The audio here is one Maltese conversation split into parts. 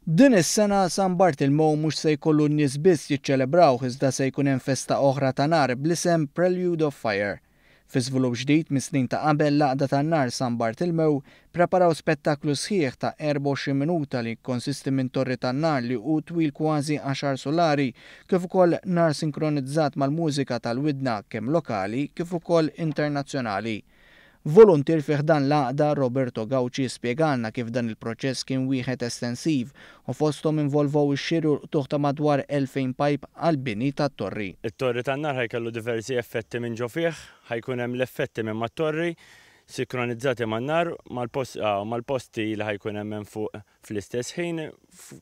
Din is-sena San Bartilmow mhux se jkollu n-nies biss jiċċelebrawh iżda se jkun hemm festa oħra ta' nar bl-isem Prelude of Fire. Fi żvilupp ġdid mis-snin ta' qabel l-Għaqda tan-Nar San Bartilmew ppreparaw spettaklu sħiħ ta' 24 minuta li jikkonsisti minn torri tan-nar li hu twil kważi għaxar sulari kif ukoll nar sinkronizzat mal-mużika tal-widna kemm lokali kif ukoll internazzjonali. Voluntier fi ħdan l-Għaqda, Roberto Gauci spjegalna kif dan il-proċess kien wieħed estensiv u fosthom involvow ix-xiri u l-qtugħ ta' madwar 2,000 pajp għall-bini tat-torri. It-torri tan-nar ħa jkellu diversi effetti minn ġo fih, ħa jkun hemm l-effetti minn mat-torri, sikronizzati man-nar, mal-post, ah, u mal-posti li ħa jkun hemm hemm fuq. Fl-istess ħin,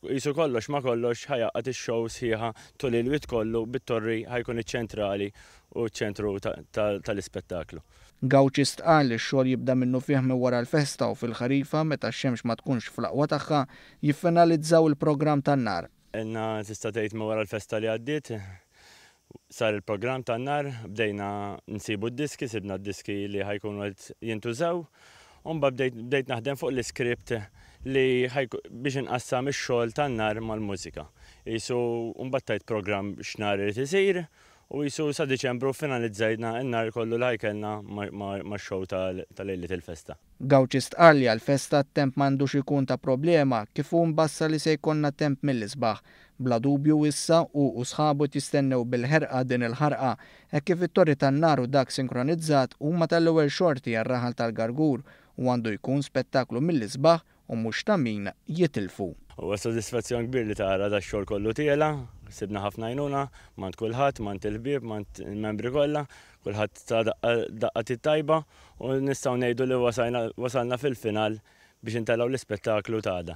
qisu kollox ma' kollox ħa jgħaqqad ix-show sħiħa tul il-Wied kollu bit-Torri ħa jkun iċ-ċentrali u ċ-ċentru tal-ispettaklu. Gauci stqarr li x-xogħol jibda minnufih minn wara l-festa u fil-ħarifa meta x-xemx ma tkunx fl-aqwa tagħha, jiffinalizzaw il-programm tan-nhar. Għedna tista' tgħid minn wara l-festa li għaddiet. Sar il-programm tan-nhar, bdejna nsibu d-diski, sibna d-diski li ħa jkunu qed jintużaw, u mbagħad bdejt bdejt naħdem fuq l-iskript li ħa jku biex inqassam ix-xogħol tan-nhar mal-mużika. Qisu u mbagħad tajt programm x'nhar irid isir, u qisu sa Diċembru ffinalizzajna n-nhar kollu li ħa jkellna ma' ma' max-show ta' ta' lejliet il-festa. Gauci stqarr li għall-festa t-temp ma għandux ikun ta' problema, kif hu mbassar li se jkollna temp mill-isbaħ. Bla dubju issa hu u sħabu qed jistennew bil-ħerqa din il-ħarqa, hekk kif it-Torri tan-Nar u dak sinkronizzat huma tal-ewwel xorti għar-raħal tal-Gargur u għandu jkun spettaklu mill-isbaħ u mhux ta' min jitilfu. Huwa sodisfazzjon kbir li tara dax-xogħol kollu tiela'. Sibna ħafna għajnuna m'għand kulħadd, m'għand il-ħbieb, m'għand il-membri kollha, kulħadd ta daqqa daqqa t-tajba u nistgħu ngħidu li wasalna fil-final biex intelgħu l-ispettaklu t'għada.